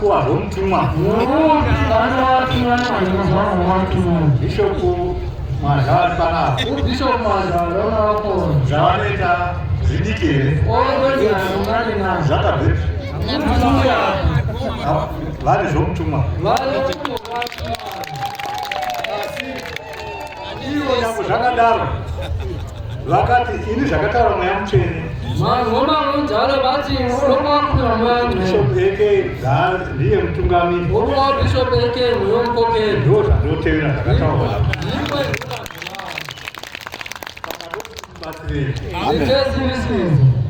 Kuwa homtumwa. Bishop Mazhari panapa. Bishop Mazhari wanapo. Zvavanoita zvidiki here? Zvakabvepi? Vari zvomtumwa. Vari zvomtumwa. Ivo nyangwe zvakadaro vakati ini zvakataura mweya mutsvene vanhu vomarunzalo vati unokwakura mwanbishop eke ndiye mutungamiri unowa bishop eke uyo mukokeri ndo zvandotevera zvakataura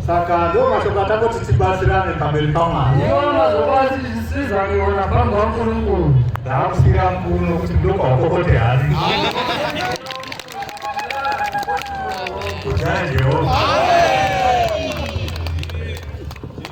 saka ndo mashoko atangoti tibatsirane pamberi pamwari ndaakusira mkuru nokuti ndokwakokote hati kutyaya jehovha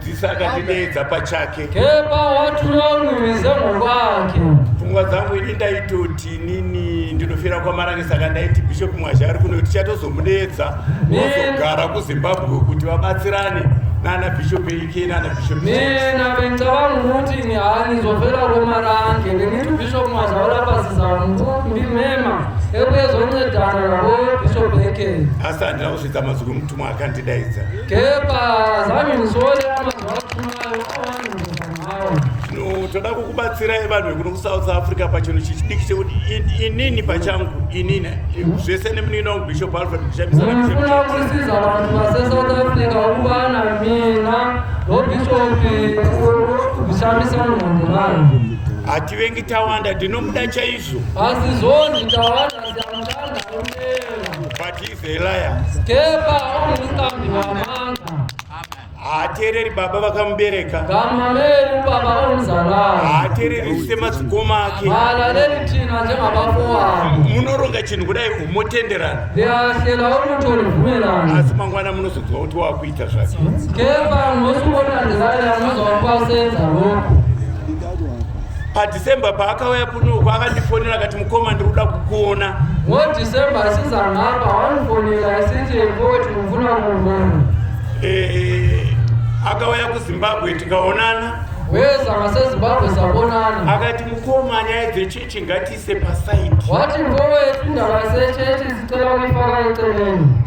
Dzidzisa akandideedza pachake. Kepa watura unwize muvake. Pfungwa dzangu ini ndaitoti nini ndinofira kwamarani saka ndaiti Bishop Mwazha ari kuno tichatozomudeedza vozogara kuZimbabwe kuti vabatsirane nana Bishop Ike nana Bishop. Mina bengicabanga ukuthi ni anizofela kwamarani ngemithi Bishop Mwazha ulapasisa mkhulu ndimema ebuye zoncedana nabo Bishop Ike. Asi handina kusvitsa mazwi kumutumwa akandidaidza. Kepa zami musole toda kukubatsirai vanhu vekuno kusouth africa pachinhu chichidiki chekuti inini pachangu inini zvese nemunini wangu bishop alfred ndishambisaafuna kusiza vanhu vasesouth africa ukuvana mina nobishopi kushambisa munhu vanhu hativengi tawanda ndinomuda chaizvo asi zvonzi tawanda siamutanda haateereri baba vakamubereka haateereri semadzikoma ake munoronga chinhu kudai motenderana asi mangwana munozoziva kuti wakuita zvake but December paakauya kuno uko akandifonera akati mukoma ndiri kuda kukuona. Ngo December asizanhapa wandifonera asinzi ekoti mufuna kumbona. Eh, akauya kuZimbabwe tikaonana. Weza maseZimbabwe sabonana. Akati mukoma nyaya dzechechi ngatiise paside. Wati ngowe ndava sechechi zicela kuifaka eceleni.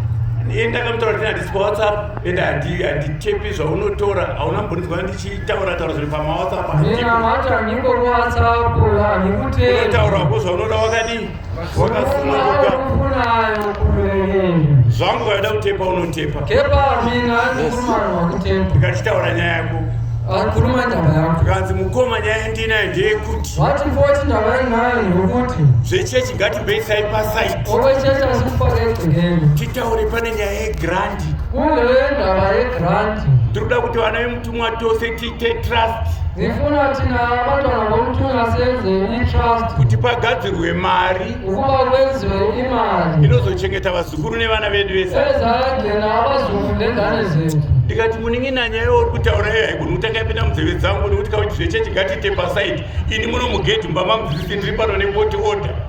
Iye ndakamutaura kuti handisi paWhatsApp ende handichepi zvaunotora hauna mbonizwa ndi Chitaura taura zviri pama WhatsApp handiko. Nina mata niko mu WhatsApp handikutenda. Unotaura ko zvaunoda wakadii? Wakasuna kuka. Unayo kuverenga. Zvangu waida kutepa unotepa. Kepa mina ndikuruma wakutepa. Ndikachitaura nyaya yako. Akuruma ndaba yako. Kanzi mukoma nyaya ndina ndiye kuti. Wati voti ndaba yanayo ndokuti. Zvechechi ngati base side pa side. Owe chechi asikupa kenge. Titaure pane nyaya ye grand. Kune ndava yegrant. Tiri kuda kuti vana vemutumwa tose tiite trust. Ndifuna tina batwana vomutumwa senze itrust. Kuti pagadzirwe mari. Ukuba kwenzwe imari. Inozochengeta vazukuru nevana vedu vese. Eza gena abazukuru nendane zethu. ndikati munin'ina nyaya yauri kutaura iyo haigoni kutanga yapinda munzeve dzangu nekuti kauti zvechechi ngatiite pasaidi ini muno mugedhi mbama mudzidzisi ndiri pano nepoti order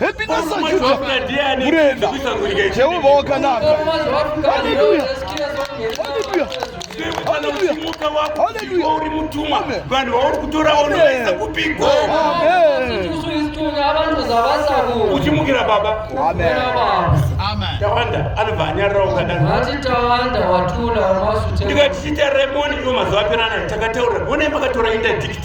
Happiness ajuta murenda Jehovha wakanaka. Haleluya. Haleluya. Haleluya. Haleluya. Uri mutumwa. Vanhu vauri kutora unoisa kupiko. Amen. Uchimukira baba. Amen. Amen. Tawanda anobva anyarira ukadaro. Vati tawanda watula masuta. Ndikati chita remoni iyo mazuva apera nayo takataura. Wone makatora interdict.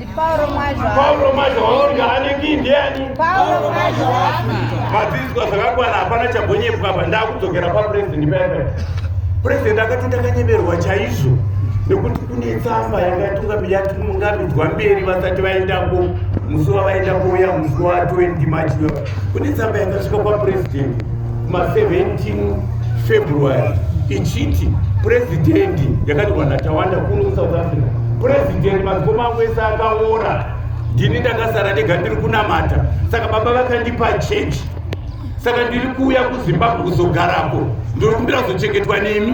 Pauro Mazwa. Pauro Mazwa waunga aneki ndiani? Pauro Mazwa. Madziswa zvakakwana hapana chambonyepwa apa ndakudzokera pa president paya. President akati ndakanyemerwa chaizvo nekuti kune tsamba yakatunga yatungamidzwa mberi vasati vaendako musi wavaenda kuuya musi wa 20 March Kune tsamba yakasvika kwapurezidendi ma 17 February ichiti purezidendi yakanyorwa naTawanda kuno kuSouth Africa. Purezidendi madzikoma angu ese akaora, ndini ndakasara ndega ndiri kunamata, saka baba vakandipa chechi, saka ndiri kuuya kuZimbabwe kuzogarako, ndiri kumbira kuzochengetwa nemi.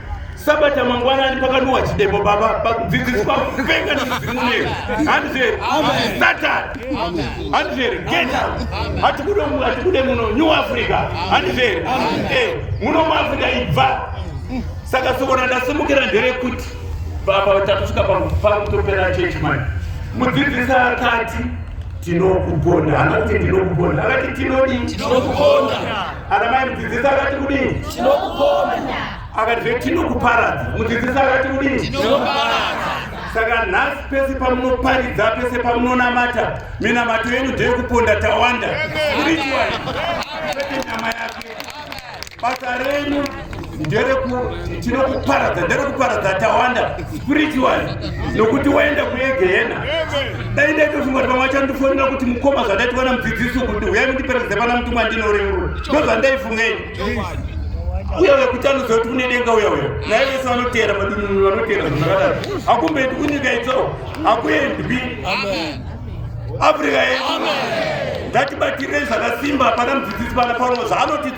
sabata mangwanani pakanuwa chidemo baba pakudzidziswa kupenga nezvizimunei handizveri satan handizveri geta hatikude muno new africa handizveri eh, muno muafrica ibva saka sokona ndasimukira nderekuti baba takusvika pakutopera chechi mani mudzidzisi akati tinokugona hana kuti ndinokugona akati tinodii Ana mai mudzidzisi akati kudini? Tinokuponda. Akati zve tinokuparadza. Mudzidzisi akati kudini? Tinokuparadza. Saka nhasi pese pamunoparidza pese pamunonamata minamato yenyu ndeyekuponda tawanda. Spiritual. Nyama yake. Basa renyu nderekuparadza nderekuparadza tawanda spiritual nokuti waenda kuyegehena dai ndaitozvingoti vamwe vachandifonera kuti mukoma zvandaitivana mudzidzisi kuti huyai mundiperedze pana muti mwandinorerura ndozvandaifungei uya uya kuti anoziva kuti kune denga uya uya naye vese vanotera madununu vanotera zvakadaro hakumbendi kunyika itso hakuendwi afrika yedu ngatibatirei zvakasimba pana mudzidzisi pana paulo zvaanoti